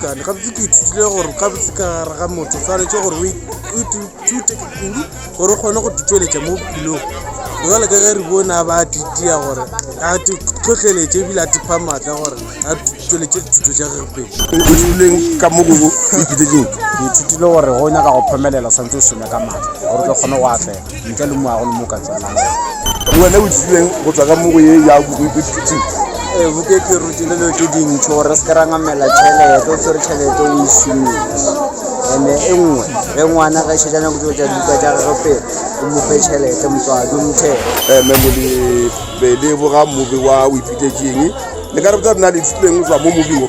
Gane gabotse ke ithutile gore gabotse ka gare ga motho tshwanetse gore o ithute kudu gore o kgone go titšweletša mo bophelong jale ka ge re bone a ba titia gore a tlhotlheletse ebile a tipha maatla gore a tšweletše dithuto tša gage pele ithutile ka mo go ithutile gore go nyaka go phomelela santse o šome ka maatla gore o tlo kgone go atlega ntle le moago le mo ka tsenang le wena o tsileng go tswa ka mo go ye ya bokoipithutsing ee eh, bokete rutile dilo tse dintšho gore se ke ra ngamela tšhelete o tshwere tšhelete o išomise ande e nngwe ge ngwana ga šetša nyako tseo tša dibuka tša gage pele o mofe tšhelete motswadi o mothele eh, memole pele boga mobe wa o ipitetseng le ka re botsa nna le itsituleng go tswa mo mobimo